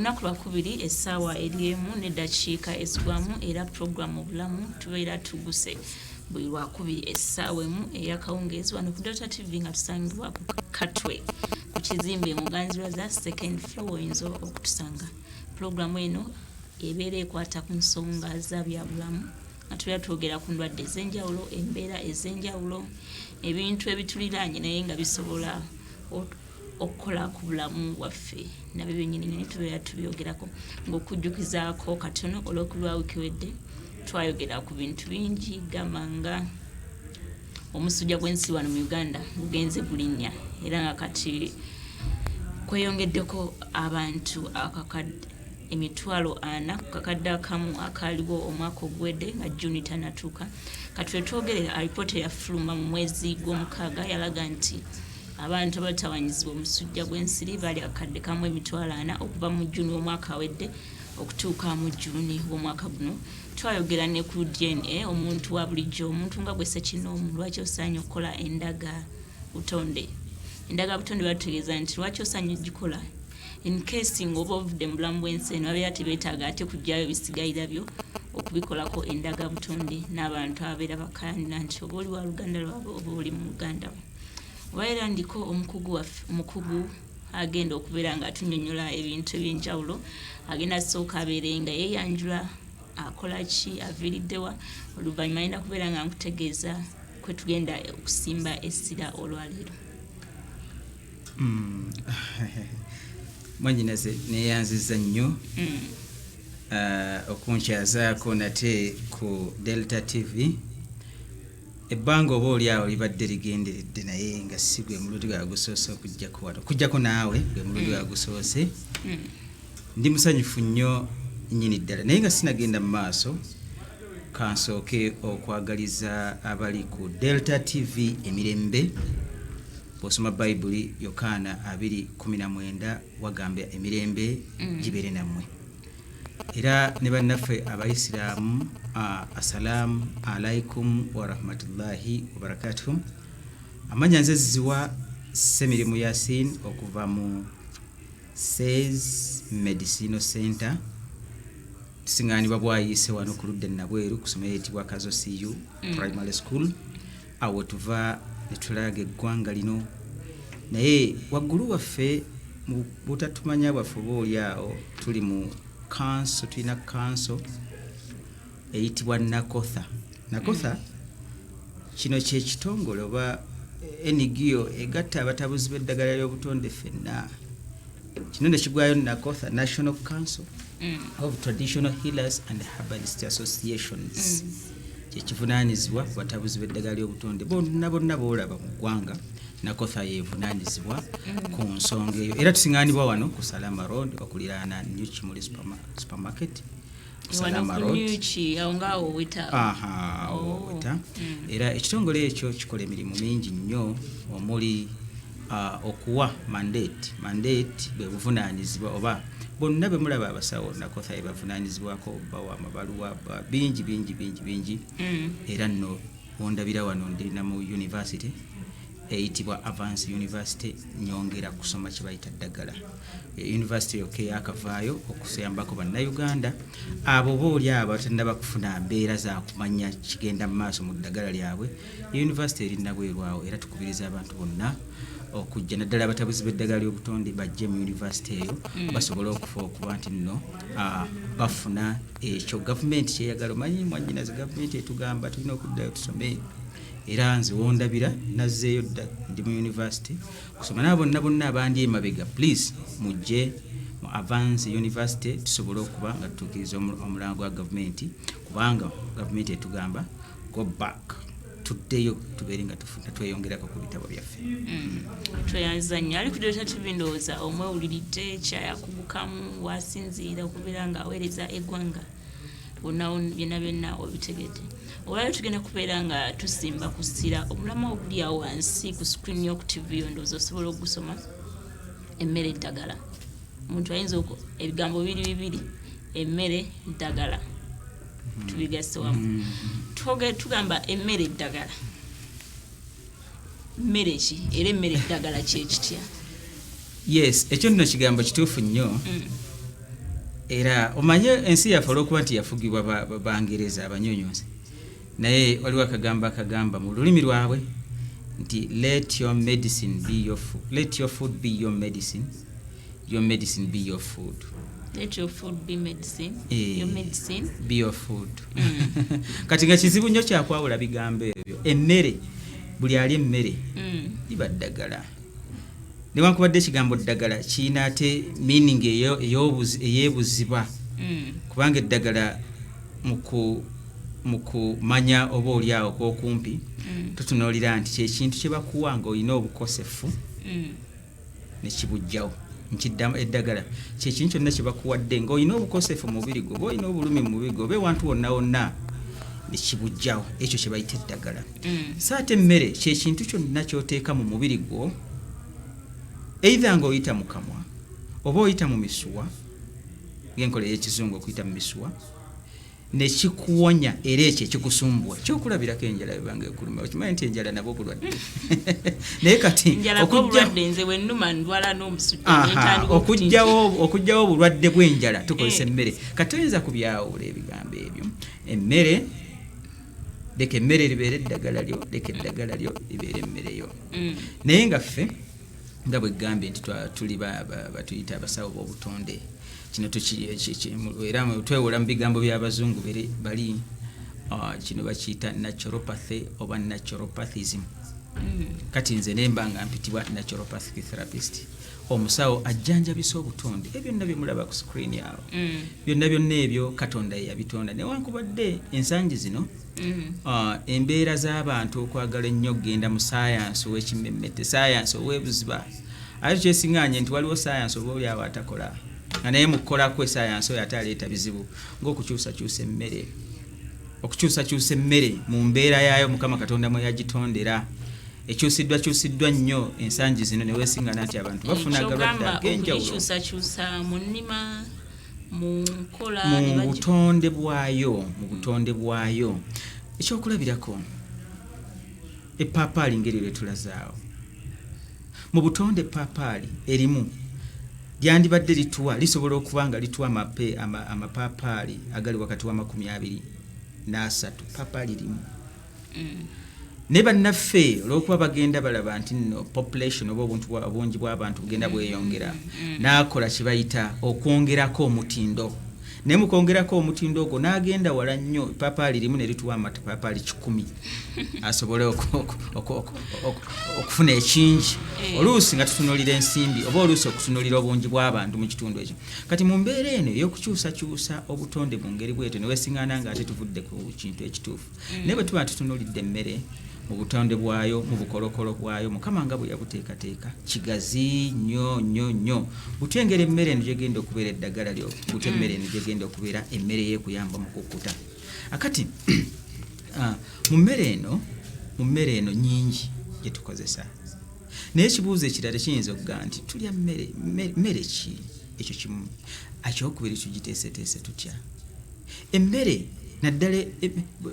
olunaku lwakubiri essaawa eri emu neddakiika ezigwamu era pulogulaamu obulamu tubeera tuguse buli lwakubiri essaawa emu eyakawungeezi wano ku dota tv nga tusangibwa ku katwe ku kizimbe muganzirwa za second flow oyinza okutusanga Pulogulaamu eno ebeera ekwata ku nsonga za byabulamu nga tubeera twogera ku ndwadde ez'enjawulo, embeera ez'enjawulo, ebintu ebituliraanye naye nga bisobola okukola ku bulamu bwaffe nabyo byennyini naye tubeera tubyogerako ng'okujjukizaako katono olw'okulwa wiiki wedde twayogera ku bintu bingi gamba nga Omusujja gw'ensi wano mu Uganda gugenze gulinnya era nga kati kweyongeddeko abantu akakadde emitwalo ana ku kakadde akamu akaaliwo omwaka oguwedde nga Juni tanatuuka. Kati wetwogerera alipoota eyafuluma mu mwezi gw'omukaaga yalaga nti abantu abatawanyizibwa omusujja gw'ensiri bali akadde kamu emitwalo ana okuva mu Juni w'omwaka awedde okutuuka mu Juni w'omwaka guno. twayogera ne ku dna omuntu wa bulijjo omuntu nga gwe ssekinoomu lwaki osaanye okukola endaga butonde endaga butonde batutegeeza nti lwaki osaanye ogikola encase ngaoba ovudde mu bulamu bw'ensi eno babeera tebeetaaga ate kugyayo bisigayira byo okubikolako endaga butonde n'abantu ababeera bakanira nti oba oli wa luganda lwabwe oba oli mu luganda we oba era ndiko omukugu waffe omukugu agenda okubeera nga atunyonyola ebintu ebyenjawulo agenda sooka abeere nga yeyanjula akola ki aviiriddewa oluvannyuma agenda kubeera nga nkutegeeza kwe tugenda okusimba essira olwaleero hmm. mwanyinaze neyanziza nnyo hmm. ah, okunkyazaako nate ku delta tv Ebbanga oba oli awo libadde ligenderedde naye nga si gwe mulundi gwa gusoose okujjako wano okujjako naawe gwe mulundi gwa gusoose hmm. ndi musanyufu nnyo nnyini ddala naye nga sinagenda mu maaso kansooke okwagaliza abali ku delta tv emirembe bwosoma bayibuli yokaana 219 wagamba emirembe hmm. gibeere nammwe mm. era ne bannaffe abaisiraamu assalaamu alaikum warahmatullahi wabarakatuhu amanya nze ziwa semirimu yasin okuva mu says medicino center tusiŋanibwa bwayiise wano ku ludde nabweru ku someyo etibwa kazo cu mm. primary school awo tuva ne tulaaga eggwanga lino naye waggulu waffe mu butatumanya bwaffe oba oli awo tuli mu kanso tulina kanso eyitibwa nakotha nakotha mm. kino kyekitongole oba ngo egatta abatabuzi b'eddagala ly'obutonde fenna kino ne kigwayo nakotha national council mm. of traditional healers and herbalist associations mm. kyekivunanyizibwa ku batabuzi b'eddagala ly'obutonde bonna bonna boolaba mu ggwanga nakotha yevunanyizibwa mm. ku nsonga eyo era tusiŋanibwa wano ku salama road okuliraana new kimuli supermarket era ekitongole ekyo kikola emirimu mingi nnyo omuli uh, okuwa mandate mandate bwe buvunaanyizibwa oba bonna be mulaba abasawo nakotha ebavunaanyizibwako bawa amabaluwa bingi bingi bingi bingi mm. era nno ondabira wano ndi na mu university eyitibwa avance university nyongera kusoma kye bayita ddagala yunivasite yokka eyakavaayo okusayambako bannayuganda abo oba oli abo abatannaba kufuna mbeera za kumanya kigenda mu maaso mu ddagala lyabwe yunivasite eri nabwerwawo era tukubiriza abantu bonna okujja naddala abatabuzi b'eddagala ly'obutonde bajje mu yunivasite eyo mm. basobole okufa okuba nti nno ah, bafuna ekyo gavumenti kyeyagala omanyi mwanyinazi gavumenti etugamba tulina okuddayo tusome era nze wondabira nazzeeyo dda ndi mu yunivasite kusoma nabo bonna bonna abandi emabega please mujje mu avance university tusobole okuba nga tutuukiriza omulango gwa gavumenti kubanga gavumenti etugamba go back tuddeyo tubeere nga tweyongerako ku bitabo byaffe mm. tweyanziza nnyo ali kudireta tv ndowooza omwewuliridde kyayakugukamu wasinziira okubeera ng'aweereza eggwanga onawono byonna byonna obitegedde olwaliro tugenda kubeera nga tusimba ku ssira obulamu obuli awo wansi ku screen yoku tv yo ndowooza osobola okugusoma emmere eddagala omuntu ayinza ebigambo biri bibiri emmere ddagala tubigasse wamu mm-hmm. tugamba emmere eddagala mmere ki era emmere eddagala kyekitya yes ekyo nno kigambo kituufu nnyo mm. era omanye ensi yaffe olwokuba nti yafugibwa bangereza abanyonyonzi naye waliwo akagambo akagamba mu lulimi lwabwe nti let your medicine be your food, let your food be your medicine your medicine be your food let your food be medicine eh, your medicine be your food mm. kati nga kizibu nnyo kyakwawula bigambo ebyo emmere buli ali emmere mm. liba ddagala newankubadde ekigambo ddagala kirina ate meaning eyebuziba mm. kubanga eddagala mu kumanya oba oli awo kwokumpi mm. tutunuulira nti kyekintu kyebakuwa nga olina obukosefu mm. nekibujjawo nkiddamu eddagala kyekintu kyonna kyebakuwadde nga olina obukosefu mu mubiri gwo oba olina obulumi mu mubiri gwo oba ewantu wonna wonna nekibujjawo ekyo kyebayita eddagala mm. so ate emmere kyekintu kyonna kyoteeka mu mubiri gwo eitha nga oyita mu kamwa oba oyita mu misuwa ngenkola eyekizungu okuyita mu misuwa nekikuwonya era ekyo ekikusumbuwa kyokulabirako enjala ebanga ekuluma okimanyi nti enjala nabwo bulwadde naye kati okugyawo obulwadde bwenjala tukozesa eh. emmere kati oyinza kubyawula ebigambo ebyo emmere leka emmere libeere eddagala lyo leka eddagala lyo libeere emmere yo mm. naye nga ffe nga bwe gambye nti tuli batuyita abasawo b'obutonde kino era twewola mu bigambo by'abazungu bali ah, kino bakiyita naturopathy oba naturopathism hmm. kati nze nemba nga mpitibwa naturopathic therapist omusawo ajjanjabisa obutonde ebyo byonna byemulaba ku screen awo hmm. byonna byonna ebyo katonda yeyabitonda newankubadde ensangi zino Mm-hmm. Uh, embeera z'abantu okwagala ennyo okugenda mu sayansi ow'ekimmemmette sayansi ow'ebuziba ate kyesinganye nti waliwo sayansi oba oli awo atakola nga naye mukukolako esayansi oyo ate aleeta bizibu ngaokukyusakyusa emmere okukyusakyusa emmere mu mbeera yaayo mukama katonda mwe yagitondera ekyusiddwa kyusiddwa nnyo ensangi zino newesingana nti abantu bafuna agalwadde agenjawulo mu nkola mu butonde bwayo mu butonde bwayo ekyokulabirako epaapaali ngeri lwe tulazaawo mu butonde epaapaali erimu lyandibadde lituwa lisobola okuba nga lituwa amapaapaali agali wakati wa makumi abiri n'asatu paapaali limu mm. naye bannaffe olwokuba bagenda balaba nti no population oba obuntu obungi bw'abantu bugenda mm. bweyongera mm. n'akola kye bayita okwongerako omutindo naye mukwongerako omutindo ogwo n'agenda wala nnyo epaapaali limu ne lituwa amapaapaali kikumi asobole okufuna ekingi eh. oluusi nga tutunulira ensimbi oba oluusi okutunulira obungi bw'abantu mu kitundu ekyo kati mu mbeera eno ey'okukyusakyusa obutonde mu ngeri bwetyo ne wesingana ng'ate tuvudde ku kintu ekituufu mm. naye bwe tuba tutunulidde emmere mu butonde bwayo mu bukolokolo bwayo mukama nga bwe yabuteekateeka kigazi nnyo nnyo nnyo butya engeri emmere eno gyegenda okubeera eddagala lyo butya mm. emmere eno gyegenda okubeera emmere yekuyamba mu kukkuta akati ah, mu mmere eno mu mmere eno nyingi gye tukozesa naye ekibuuzo ekirala kiyinza okuga nti tulya mmere mmere ki ekyo kimu akyokubiri tugiteeseteese tutya emmere naddala e, e,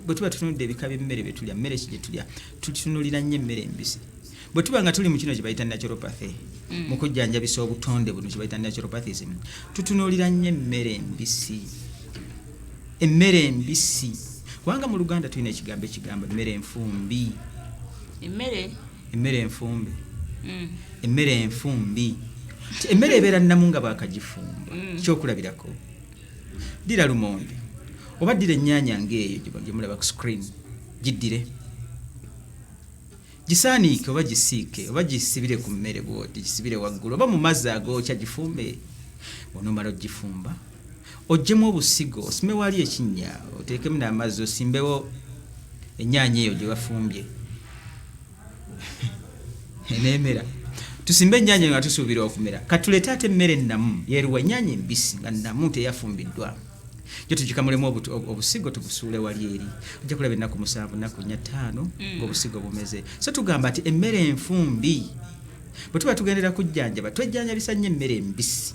bwe tuba tutunudde ebika by'emmere bye tulya mmere ki gye tulya tutunulira nnyo emmere embisi bwe tuba nga tuli mu kino kye bayita naturopathy mm. mu kujjanjabisa obutonde buno kye bayita naturopathism tutunulira nnyo emmere embisi emmere embisi kubanga mu luganda tulina ekigambo ekigamba emmere enfumbi emmere emmere enfumbe mm. emmere enfumbi emmere ebeera nnamu nga bakagifumba mm. kyokulabirako ddira lumonde oba ddira ennyaanya ng'eyo gye mulaba ku screen giddire gisaaniike oba gisiike oba gisibire ku mmere bwoti gisibire waggulu oba mu mazzi agookya gifumbe onomala ogifumba ojjemu obusigo osime wali ekinnya oteekemu n'amazzi osimbewo ennyaanya eyo gye bafumbye enemera tusimbe ennyanya nga tusuubira okumera katuleete ate emmere ennamu yeruwa ennyanya embisi nga nnamu teyafumbiddwa jo tugikamulemu obusigo tubusuule wali eri ojja kulaba ennaku musanvu nnaku nnya ttaano mm. ng'obusigo bumeze so tugamba nti emmere enfumbi bwe tuba tugendera kujjanjaba twejjanjabisa nnyo emmere embisi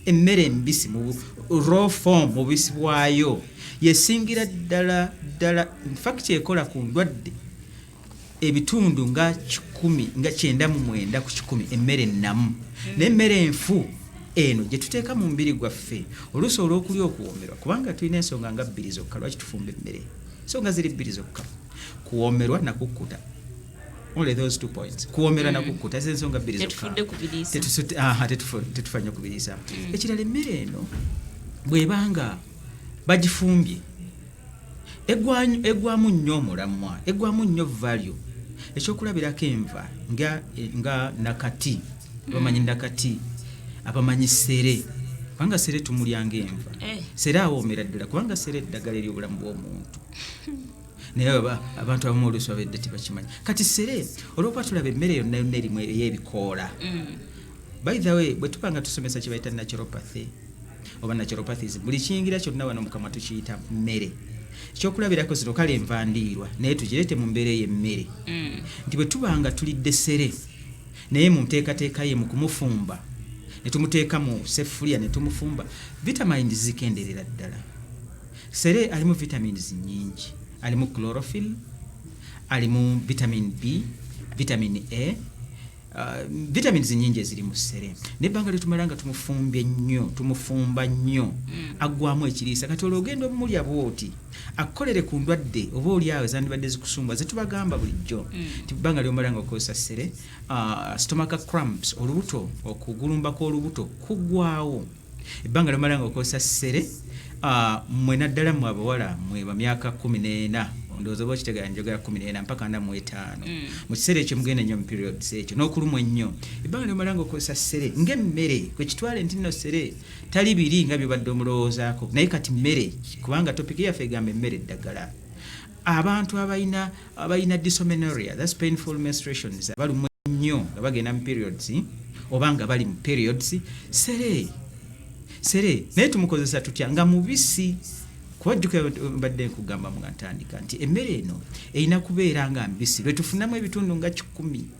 emmere embisi mu raw form mu bisi bwayo yesingira ddala ddala fakiti ekola ku ndwadde ebitundu nga kikumi nga kyenda mu mwenda ku kikumi emmere ennamu naye emmere enfu eno gye tuteeka mu mubiri gwaffe oluusi olw'okulya okuwoomerwa kubanga tulina ensonga nga bbiri zokka lwaki tufumba emmere ensonga ziri bbiri zokka kuwoomerwa nakukkuta only those two points kuwomera na mm. kukuta ze nsonga bbiri zokatetufa nyo kubiriisa mm. ekirala emmere eno bwebanga bagifumbye egwamu nnyo omulamwa egwamu nnyo value ekyokulabirako enva nga, nga nakati bamanyi nakati abamanyi sere kubanga sere tumulyanga enva eh. sere awoomera ddala kubanga sere eddagala eri obulamu bw'omuntu naye abantu abamu oluusi babedde tebakimanyi kati sere olwokuba tulaba emmere yonna yonna erimu ey'ebikoola mm. by the way bwe tuba nga tusomesa kye bayita naturopathy oba naturopathies buli kiyingira kyonna wano mukamwa tukiyita mmere ekyokulabirako zino kale enva ndiirwa naye tugirete mu mbeera eyo emmere mm. nti bwe tuba nga tulidde sere naye mu nteekateeka ye mu kumufumba ne tumuteeka mu sefuliya ne tumufumba vitamini zikenderera ddala sere alimu vitamins nyingi alimu chlorophil alimu vitamin b vitamin a Uh, vitamins nyingi eziri mu ssere nebbanga lyetumala nga tumufumbye nnyo tumufumba nnyo mm. aggwamu ekiriisa kati olwo ogenda omumulya bwoti akukolere ku ndwadde oba oli awo ezandibadde zikusumba zetubagamba bulijjo mm. ti bbanga lyomala nga okozesa ssere uh, stomaka cramps olubuto okugulumbako olubuto kugwawo ebbanga lomala nga okozesa sere ah, mwe naddala mwe abawala mwe bamyaka kumi n'ena ndowooza oba okitegera njogera kumi n'ena mpaka ana mu etaano mm. mu kiseera ekyo mugenda nnyo mu periods ekyo n'okulumwa ennyo ebbanga lyomala nga okozesa sere ng'emmere kwe kitwale nti nno sere tali biri nga byobadde omulowoozaako naye kati mmere kubanga topiki yaffe egamba emmere eddagala abantu abalina abalina dysmenorrhea that's painful menstruations abalumwa nnyo nga bagenda mu periods oba nga bali mu periods sere sere naye tumukozesa tutya nga mubisi kuba jjuka mbadde nkugamba nga ntandika nti emmere eno erina kubeera nga mbisi lwe tufunamu ebitundu nga kikumi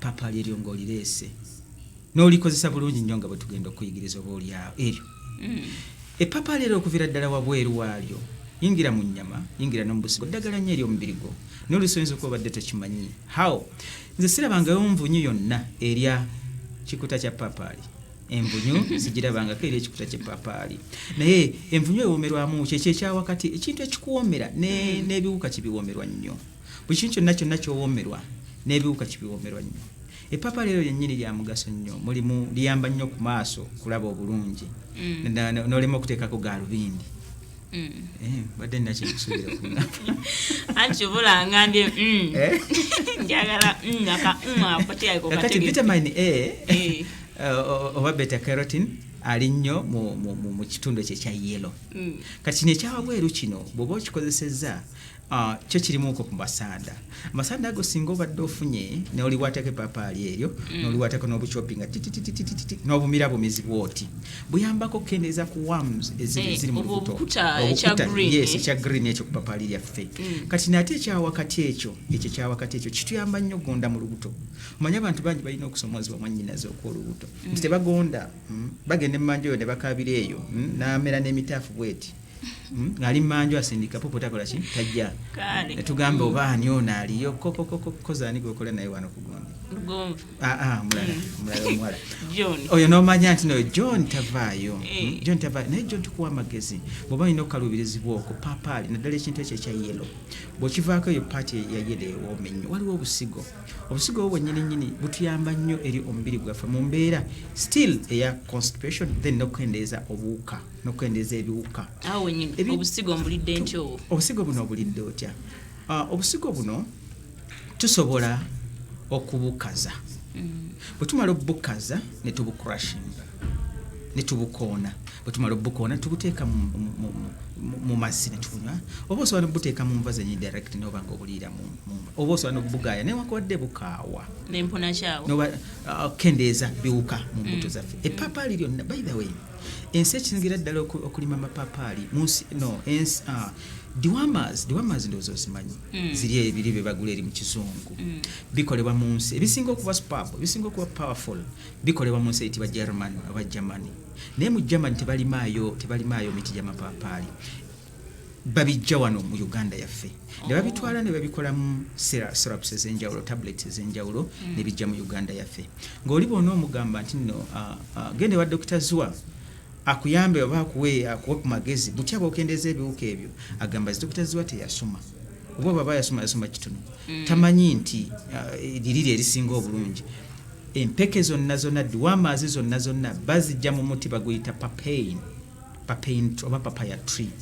Papa liryo ng'olireese n'olikozesa bulungi nnyo nga bwe tugenda okuyigiriza oba olyawo eryo mm. epapa leero okuvira ddala wabweru waalyo yingira mu nnyama yingira no mu busigo ddagala nnyo eri omubiri gwo n'olusi oyinza okuba obadde tokimanyi how nze sirabangayo nvunyu yonna erya kikuta kya papaali envunyu zigirabangako eri ekikuta kyepapaali naye envunyu ewoomerwamu kyekyo ekyawakati ekintu ekikuwoomera n'ebiwuka kibiwoomerwa nnyo Buli kintu kyonna kyonna ky'owoomerwa n'ebiwuka kibiwoomerwa nnyo. Eppaapaali eryo lyennyini lya mugaso nnyo, mulimu liyamba nnyo ku maaso kulaba obulungi mm. n'olema okuteekako gaalubindi. Mm. Eh, mbadde nina kyekusubira anti obula ngambye mm. eh? njagala akakati vitamini a eh. oba beta carotin ali nnyo mu kitundu ekyo ekya yelo kati kino ekyawabweru kino bw'oba okikozesezza Ah, kyo kirimu ko kumasanda amasanda ago singa obadde ofunye noliwatako epapaali eryo mm. noliwatako nobucopi nga titititititi nobumira bumizi bwoti buyambako kendeeza ku wams eziri eh, mu lubuto yes ekya green ekyo kupapaali lyaffe mm. kati nate ekyawakati ekyo ekyo kyawakati ekyo kituyamba nnyo gonda mu lubuto omanye abantu bangi balina okusomozebwa mwanyinazi okwolubuto mm. nti tebagonda bagenda emanjoyo nebakabira eyo namera nemitaafu bweti Hmm? ng'ali manju asindika pupu takola ki tajja netugamba oba ani ono aliyo kokokokozaani gwekola naye wano kugundi ah, ah, mulala hmm. omuwala oyo nomanya nti noyo john tavaayo hmm? eh. john tavaayo naye john tukuwa amagezi bwoba olina okukaluubirizibwa okwo papaali naddala ekintu ekyo ekya yelo bwekivaako eyo paati ya yelo ewooma ennyo waliwo obusigo obusigo obwo bwenyini nyini butuyamba nnyo eri omubiri gwaffe mu mbeera still eya constipation then nokukendeeza obuwuka nokukendeeza ebiwuka obusigo mbulidde ntya obwo obusigo buno obulidde otya ah, obusigo buno tusobola okubukaza mm. bwe tumala obubukaza ne tubucrushinga ne tubukoona bwe tumala obubukoona tubuteeka mu mazzi ne tubunywa oba osobola nobuteeka mu nva zenyi direct noba nga obuliira oba osobola nobugaaya newankubadde bukaawa ah, kendeeza biwuka mu mbuto mm. zaffe epaapaali lyonna by the way ensi ekisingira ddala okulima amapaapaali munsi no ensi ah, diwamas diwamas ndowooza ozimanyi mm. ziri ebiri bye bagula eri mu kizungu mm. bikolebwa mu nsi ebisinga okuba spab ebisinga okuba powerful bikolebwa mu nsi eyitibwa german aba germany naye mu germany tebalimaayo tebalimaayo miti gyamapaapaali babijja wano mu uganda yaffe nebabitwala nebabikolamu syrups ezenjawulo tablets ezenjawulo mm. nebijja mu uganda yaffe ngaoli bona omugamba nti no genda ewa dokita zwa akuyambe oba akuwe akuwe ku magezi butya bwokendeeza ebiwuka ebyo agamba zi dokita zwa teyasoma oba baba yasoma yasoma kitono mm. tamanyi nti liriri erisinga obulungi empeke zonna zonna diwamaazi zonna zonna bazijja mu muti baguyita papain papain oba papaya tree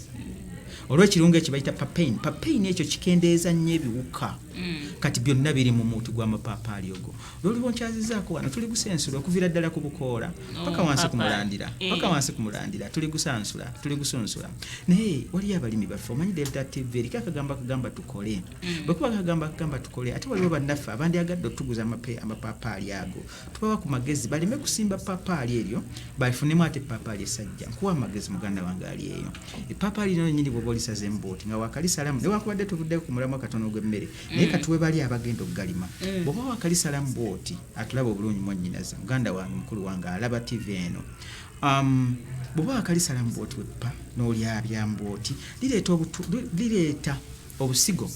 olwekirungo ekyo bayita papain papain ekyo kikendeeza nnyo ebiwuka mm. kati byonna biri mu muuti gw'amapaapaali ogwo lwoluba nkyazizaako wano tuli gusansula okuviira ddala ku bukoola oh, paka wansi ku mulandira eh. paka wansi ku mulandira tuli gusansula tuli gusunsula naye waliyo abalimi baffe omanyi delta tv eriko akagamba kagamba tukole mm. bwekuba kagamba kagamba tukole ate waliwo bannaffe abandyagadde otuguza amapaapaali ago tubawa ku magezi baleme kusimba papaali eryo balifunemu ate papaali esajja nkuwa amagezi muganda wange ali eyo epapaali lino nyini bwoba olisaza embooti nga wakalisalamu newakubadde tuvuddeko ku mulamwa katono ogw'emmere mm. naye katuwe bali abagenda okugalima mm. bwoba wakalisalamu bwoti atulaba obulungi mwanyinaze muganda wange mukulu wange alaba tivi eno um, bwoba wakalisalamu bwoti weppa n'olyabya mbwoti lireeta obusigo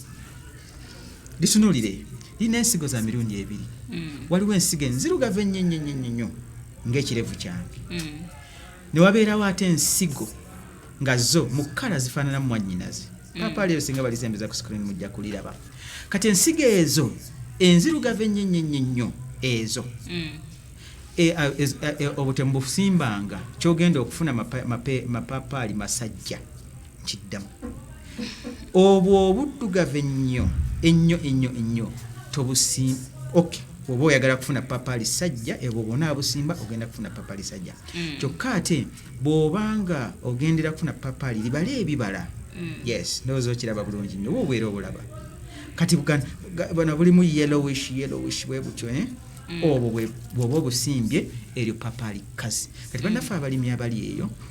litunulire lirina ensigo za mirundi ebiri mm. waliwo ensigo enzirugavu ennyenyenyenyenyo ngaekirevu kyange mm. newabeerawo ate ensigo nga zo mu kkala zifaananamu mwanyinazi mm. papa leero singa balizembeza ku screen mujja kuliraba kati ensigo ezo enzirugavu ennyenyenyenyo ezo e, e, e, obutemu busimbanga kyogenda okufuna mapapaali masajja kiddamu obwo obuddugavu ennyo ennyo ennyo ennyo tobusim ok oba oyagala kufuna papa lisajja ebwo bwona abusimba ogenda kufuna papa lisajja mm. kyokka ate bwobanga ogendera kufuna papa li libala ebibala mm. yes ndowooza okiraba bulungi nyo oba obeera obulaba kati bana bulimu yellowish yellowish bwe butyo eh? Mm. obwo bwoba obusimbye eryo papa likkazi kati mm. bannaffe abalimi abali eyo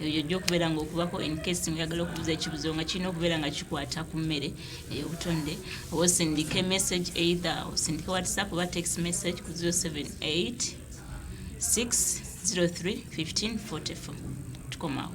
eyo yojja okubeera nga okubako encase ngaoyagala okubuza ekibuzo nga kirina okubeera nga kikwata ku mmere eyobutonde oba osindike message either osindike whatsapp oba text message ku 078 603 1544 tukomawo